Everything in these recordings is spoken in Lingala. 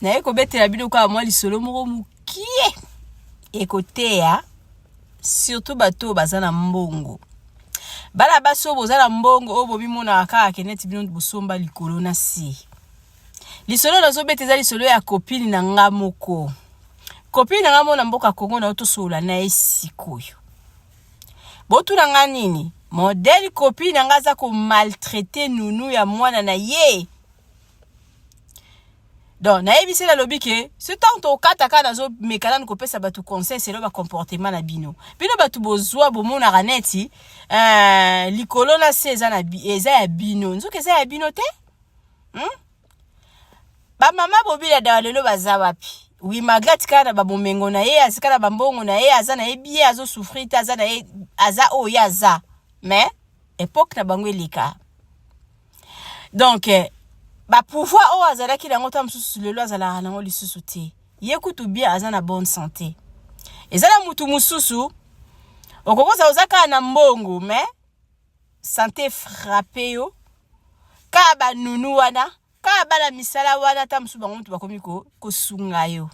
naye kobetela bino kaka mwa lisolo moko mokie ekoteya surtout bato oyo baza na mbongo bana basi oyo boza na mbongo oyo bomimonaka kaka ke neti bino bosomba likolo na si lisolo nazobeta eza lisolo ya kopini na nga moko kopini na nga moko na mboka kongo na yo tosolola na ye sikoyo botuna nga nini modele kopini na nga aza komaltraite nunu ya mwana na ye donc nayebisi nalobi ke ce temps tokata kaka nazomeka nanu kopesa bato conseil selo bacomportement na bino bino bato bozwa bomonaka neti uh, likolo na se eza, na, eza ya bino nzoki eza ya bino te hmm? bamama bobila dawa lelo baza wapi wi malgre atikala na babomengo na ye atikala na bambongo na ye aza na ye bie azosouffrir te aza na ye aza oyo ye aza mais epoke na bango eleka donc eh, bapouvoir oyo azalaki nango ntango mosusu lelo azalaka nango lisusu te ye kutu bien aza na bonne santé eza na motu mosusu okokoza oza kaka na mbongo me sante frappe yo kaka banunu wana kaka bana misala wana ata mosusu bango motu bakomi kosunga yo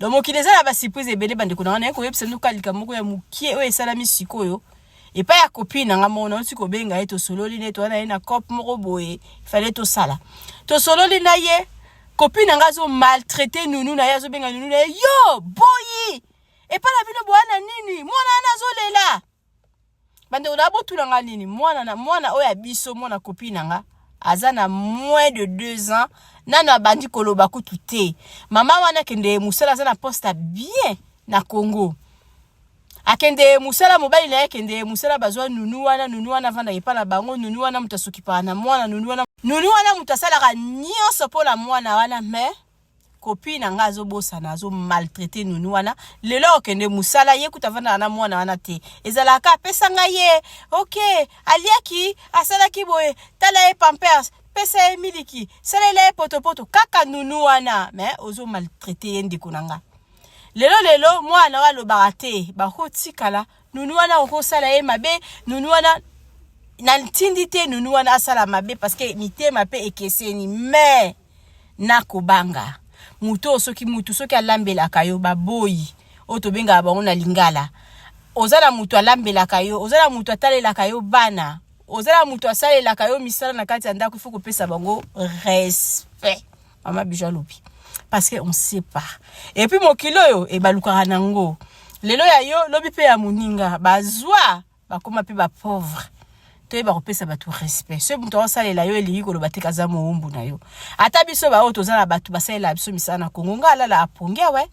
donc mokili eza na ba surprise ebele bandeko na wana ye koyebisa bino kaka likambo moko ya mokie oyo esalami sikoyo epai ya kopi na nga moko nauti kobenga ye tosololi na ye towana ye na cop moko boye fale tosala tosololi na ye kopi na nga azo maltraite nunu na ye azobenga nunu na ye yo boyi epai na bino bowana nini mwana wana azolela Bandeko na botuna nga nini mwana na mwana oyo ya biso mwana kopi na nga aza na moins de deux ans nano abandi koloba kutu te mama wana akende mosala aza na poste ya bien na congo akende mosala mobali na ye akende mosala bazwa nunu wana nunu wana avandaka epai na bango nunu wana moto asokipaka na mwana nunu wana nunu wana moto asalaka nyonso mpo na mwana wana mais copine na nga azobosana azo maltraite nunu wana lelo akokende mosala ye kuta avandaka na mwana wana te ezalaka apesa ngai ye ok aliaki asalaki boye tala ye pampers pesa ye miliki salela ye potopoto kaka nunu wana me ozo maltraite ye ndeko na nga lelo lelo mwana oyo alobaka te bakotikala nunu wana akoki kosala ye mabe nunu wana na ntindi te nunu wana asala mabe parceke mitema mpe ekeseni me nakobanga moto oyo soki motu soki alambelaka yo baboyi oyo tobengaka bango na lingala oza na moto alambelaka yo oza na moto atalelaka yo bana oza na moto asalelaka yo misala na kati ya ndako ifo kopesa bango respect mama bijo alobi parce que on sait pas et puis mokili oyo ebalukaka eh, nango lelo ya yo lobi mpe ya moninga bazwa bakoma mpe bapauvre toyeba kopesa bato respect soki moto aosalela yo elingi koloba te kaza mowumbu na yo ata biso baoyo toza na bato basalela biso misala na kongo ngai alala apongi awe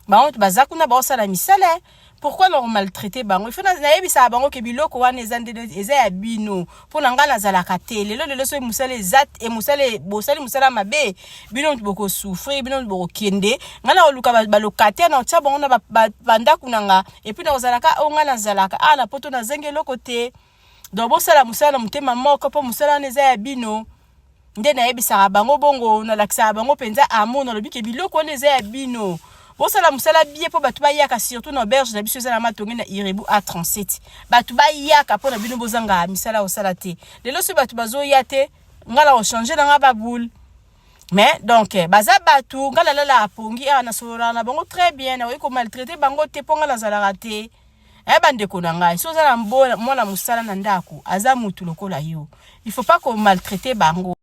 bango moto baza kuna baosala misala pourquoi na komaltraite bango ifo nayebisaka bango ke biloko wana eza nde eza ya bino mpo na ngai nazalaka te lelo lelo soki mosala eza e mosala e, bosali mosala mabe bino moto bokosouffrir bino moto bokokende ngai nakoluka balokate na otya bango na bandako na ngai epuis nakozalaka oyo ngai nazalaka awa na poto nazangi eloko te donc bosala mosala na motema moko mpo mosala wana eza ya bino nde nayebisaka bango bongo nalakisaka bango mpenza amour nalobi ke biloko wana eza ya bino bosala mosala bie mpo bato bayaka surtout na auberge na biso eza na matonge na irebu a 37 bato bayaka mpo na bino bozanga misala kosala te lelo soki bato bazoya te ngai na kochange na ngai baboule mais donc eh, baza bato ngai nalalaka pongi awa ah, nasololaka na bango très bien nakoki komaltraite bango te mpo ngai nazalaka te Eh bandeko na ngai, si oza na mwana mosala na ndako, aza mutu lokola yo. Il faut pas ko maltraiter bango.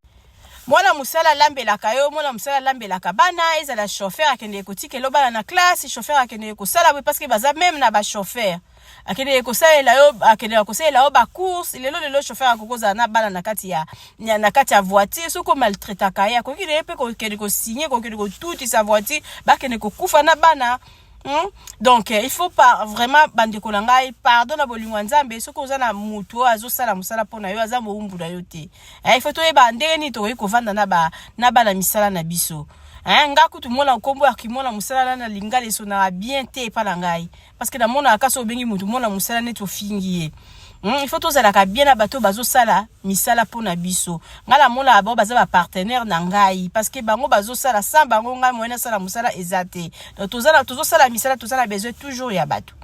Mwana mosala alambelaka yo, mwana mosala alambelaka bana, ezala chauffeur akendeke kotikela bana na classe, chauffeur akendeke kosala boye parce que baza meme na ba chauffeur. Akendeke kosalela yo, akendeke kosalela yo ba courses, lelo lelo chauffeur akokozala na bana na kati ya na kati ya voiture, soki ko maltraitaka ye, akoki na ye mpe kokende ko signer, kokende kotutisa voiture, bakende kokufa na bana. Hmm? donc eh, il faut par vraiment bandeko na ngai pardon na bolingo ya nzambe soki oza na motu oyo azosala mosala mpo na yo aza mowumbu na yo te eh, il faut toyeba ndenge nini tokoki kovanda na bana misala na biso eh, nga kutu mona nkombo ya kimona mosala na na lingala esonaka bien te epa na ngai parce que namonaka kasi obengi motu mona mosala neti ofingi ye Mm, il faut tozalaka bien na bato bazosala misala mpo na biso ngai namonaka bango baza bapartenaire na ngai parce que bango bazosala sans bango ngai moyen nasala mosala eza te donc tozosala misala toza na besoin toujours ya bato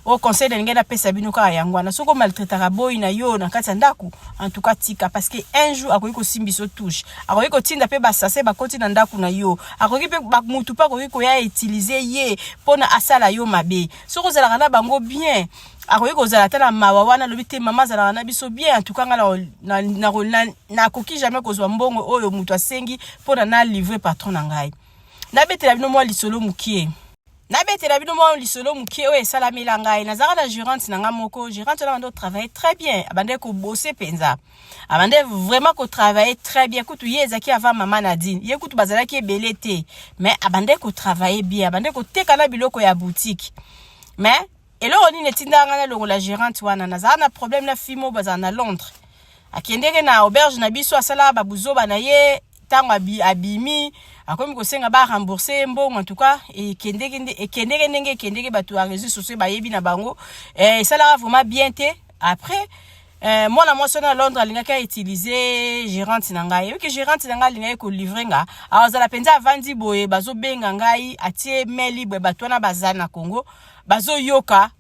oyo conseil na lingai napesa bino kaka yango wana soki omaltraitaka boyi na yo na kati ya ndako antuka tika parce que un jour akoki kosimba biso touche akoki kotinda mpe basase bakoti na ndako na yo akoki mpe motu mpe akoki koya utilize ye mpo na asala yo mabe soki ozalaka na bango bien akoki kozala ata na mawa wana alobi te mama azalaka na biso bien antuka ngai nakoki jamais kozwa mbongo oyo moto asengi mpo na nalivre patron na ngai nabetela bino mwa lisolo mokie nabetela bino mwa lisolo mokie oyo esalamela ngai nazalaka na gerante na ngai moko gerante wana abandi kotravaille très bien abandaki kobose mpenza abandaki vraiment kotravaille très bien kutu ye ezalaki avant mama nadine ye kutu bazalaki ebele te mais abandaki kotravaille bien abandaki koteka na biloko ya boutique mais eloko nini etindaka ngai nalongola gerante wana nazala na problème na fille moko bazala na londres akendeke na auberge na biso asalaka babuzoba na ye ntango abimi akomi kosenga ba rembourse ye mbongo antuka ekendeke e ndenge ekendeke bato ya réseau sociaux bayebi na bango eh, esalaka vraiment bien te après eh, mwana mwasi wana ya londres alingaki autilize gerante na ngai oyebiki gerante na ngai alingaki kolivre nga awazala mpenza avandi boye bazobenga ngai atie mail libre bato wana baza na congo bazo yoka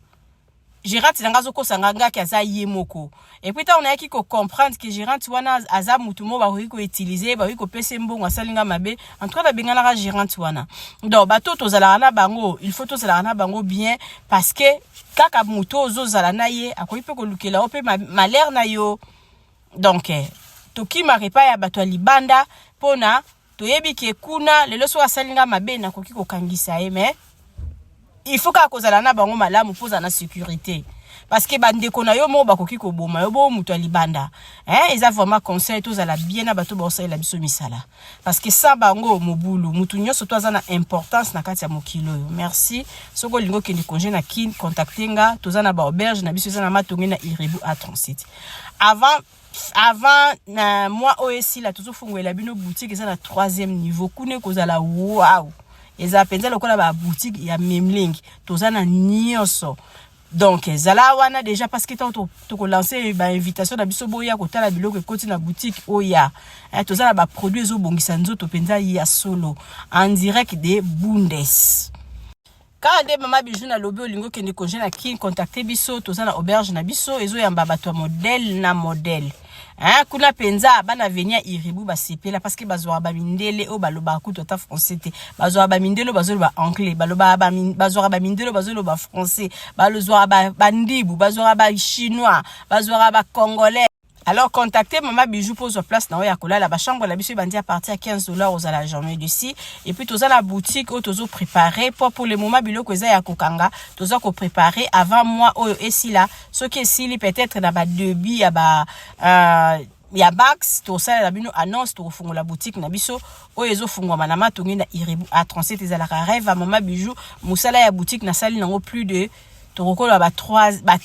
gerante na nga azokosa nga ngaki aza ye moko epuis ntango nayaki kocomprendre ke gerante wana aza motu moko bakoki koutilize bakoki kopesa ye mbongo asali nga mabe en tout cas nabenganaka gerante wana donc bato tozalaka na bango il faut tozalaka na bango bien parce que kaka motu oyo ozozala na ye akoki mpe kolukela yo mpe malere na yo donc eh, tokimaka epai ya bato ya libanda mpo na toyebi ke kuna lelo soki asali nga mabe nakoki kokangisa ye mais il faut kaka kozala na bango malamu mpo ozala na sécurité parce que bandeko na yo moko bakoki koboma yo boo moto ya libanda hein, eza vraiment conseil tozala bien na bato baosalela biso misala parce que sa bango mobulu moto nyonso to aza na importance na kati ya mokili oyo merci soki olingi okende congé na kin contacte nga toza na baauberge na biso eza na matonge na irebu a 37 avant avant na mwa oyo esila tozofungolela bino boutique eza na troisième niveau kuna ekozala wow eza mpenza lokola baboutique ya memlingi toza na nyonso donc ezala wana déjà parce que ntango tokolanse bainvitation na biso boya kotala biloko ekoti na boutique oya eh, toza na baproduit ezobongisa nzoto mpenza ya solo en direct de bundes kaka nde mama bijou na lobi olingi okende congé na kin contacte biso toza na auberge na biso ezoyamba bato ya modele na modele hein? kuna mpenza bana veni ya iribu basepela parceke bazwaka bamindele oyo balobaka kutu ata français te bazwaka bamindele oyo bazoloba anglais balobaka bazwaka bamindele oyo bazoloba français bazwaka bandibu bazwaka bachinois bazwaka bacongolais Alors contactez maman Bijou pour sa place na ya kolala ba chambre la biso bandi à partir à 15 dollars aux la journée d'ici et puis toza la boutique où tozo préparer pour pour le moment biloko eza ya kokanga toza ko préparer avant moi oyo esila ce qui esili peut-être na ba débit ya ba euh, ya bax tosalela bino annonce tokofungola boutique na biso oyo ezofungwama na matongi na iribu a 37 ezalaka rêve ya mama bijou mosala ya boutique nasali nango plus de tokokoloba ba 3 ba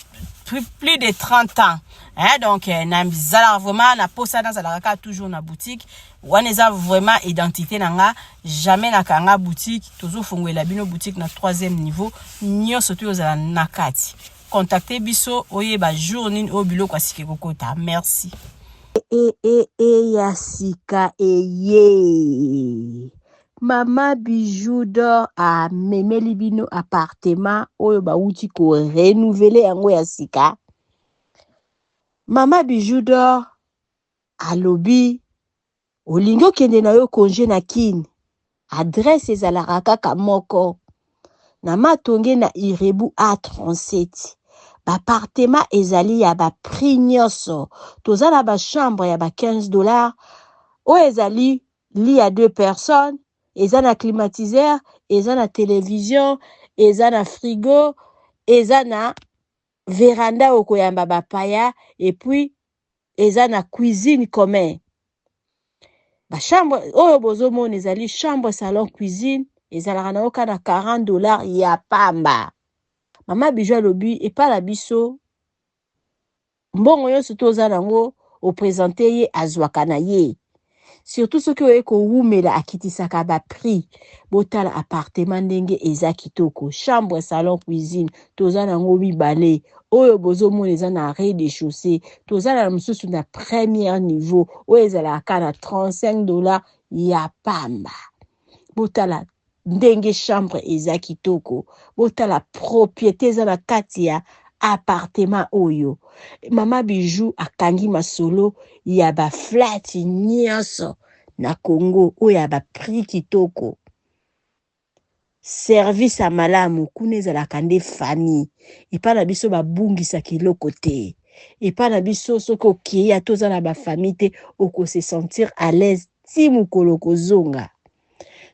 plus, plus de 30 ans hein, donc eh, nazalaka vraiment na posa nazalaka kaka toujours na boutique wana eza vraiment identité na nga jamais nakanga boutique tozofungwela bino boutique na troisième niveau nyonso to ozala na kati contacte biso oyeba jour nini oyo biloko asiki kokota merci e, e, e, ya sika eye Mama Bijoux d'or a memeli bino appartement oyo ba wuti ko renouveler yango ya sika. Mama Bijoux d'or alobi olingi okende na yo congé na Kin. Adresse ezalaka kaka moko. Na Matonge na Irebu A37. Ba appartement ezali ya ba prix nioso. Toza na ba chambre ya ba 15 dollars oyo ezali lit à deux personnes eza na climatiseur eza na television eza na frigo eza na veranda okoyamba bapaya epuis eza na cuisine commun bachambre oyo bozomona ezali chambre salon cuisine ezalaka na oka na 40 dollars ya pamba mama bijo alobi epa na biso Mbongo yonso to oza nango o presenter ye azwaka na ye. Surtout soki oye ko wumela akitisaka ba prix. Botala appartement ndenge eza kitoko. Chambre, salon, cuisine toza nango mibale. Oyo bozo mona eza na rez de chaussee. Toza na mosusu na première niveau oyo ezalaka kaka na 35 dollars ya pamba. Botala Ndenge chambre eza kitoko botala propriete eza na kati ya appartement oyo mama bijou akangi masolo ya ba flat nionso na Congo oyo ya ba prix kitoko service ya malamu kuna ezalaka nde famille epa na biso ba bungisaka eloko te epa na biso soki okeyi ata oza na ba famille te oko se sentir à l'aise ti mukolo okozonga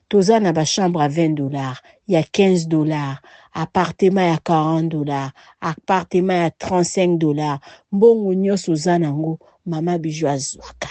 toza na ba chambre à 20 dollars ya 15 dollars appartement ya 40 dollars appartement ya 35 dollars mbongo nyonso oza nango mama bijou azwaka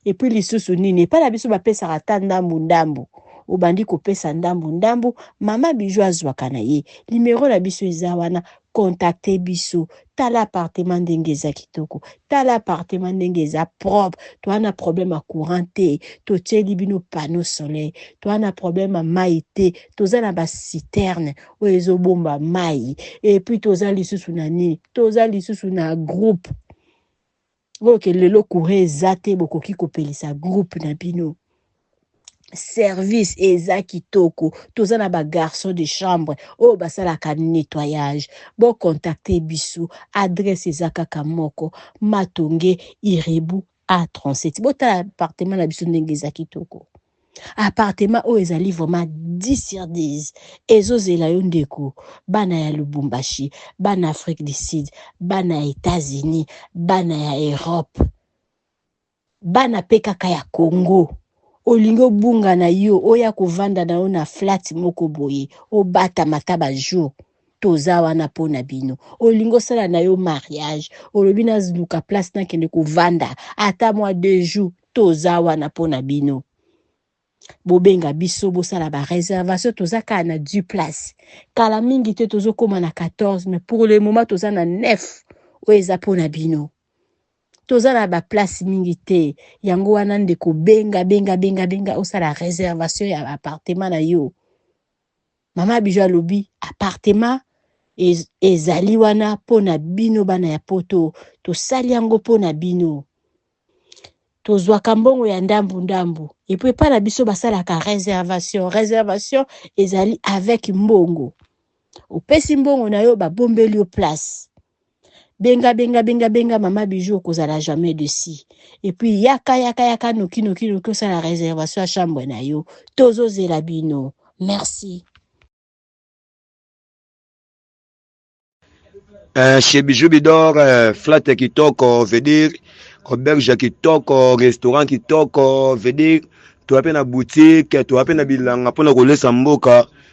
epuis lisusu nini epai na biso bapesaka ata ndambu ndambu obandi kopesa ndambu ndambu mama bijou azwaka na ye limero na biso eza wana Contacter biso, tala appartement ndenge eza kitoko, tala appartement ndenge eza propre, toa na problème ya courant te, totieli bino panneau soleil, toa na problème ya mayi te, toza na ba citernes oyo ezo bomba mayi, et puis toza lisusu na nini? Toza lisusu na groupe. oyo ke lelo courant eza te bokoki kopelisa groupe na bino service eza kitoko toza na bagarçon de chambre oyo basalaka nettoyage bocontacte biso adresse eza kaka moko matonge irebu a 37 botala appartement na biso ndenge eza kitoko Appartement oyo ezali vraiment 10 sur 10 ezo zela yo ndeko bana ya Lubumbashi bana Afrique du Sud bana ya Etats Unis bana ya Europe bana pe kaka ya Congo olingi obunga na yo oya kovanda na yo na flat moko boye obatama ata ba jour toza wana mpo na bino olingi osala na yo mariage olobi naluka place nakende kovanda ata mwa deux jours toza wana mpo na bino bobenga biso bosala bareservation toza kaka na du place kala mingi te tozokóma na 14 mais pour le moment toza na 9 oyo eza mpo na bino toza na baplace mingi te yango wana ndeko benga benga benga benga osala reservation ya appartement na yo Mama Bijou alobi appartement ez, ezali wana mpo na bino bana ya poto, tosali yango mpo na bino. Tozwaka mbongo ya ndambu ndambu epuis epai na biso basalaka reservation. Reservation ezali avec mbongo, opesi mbongo na yo babombeli yo place. benga benga benga benga mama bijou okozala jamais de si et puis yaka yaka yaka noki noki noki osala réservation ya chambre na yo tozozela bino merci euh, chez bijou bidor euh, flat kitoko veut dire auberge kitoko restaurant kitoko veut dire toa mpe na boutique toa mpe na bilanga mpo na kolesa mboka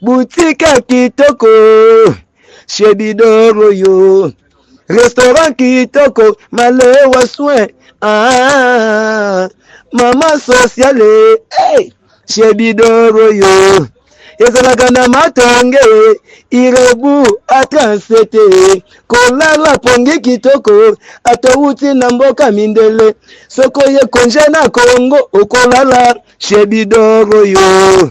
butika kitoko chez bidoro yo restaurant kitoko malewa soin ah, mama sociale hey, chez bidoro yo ezalaka na matonge irebu atransete kolala pongi kitoko atowuti na mboka mindele soki oye konje na kongo okolala chez bidoro yo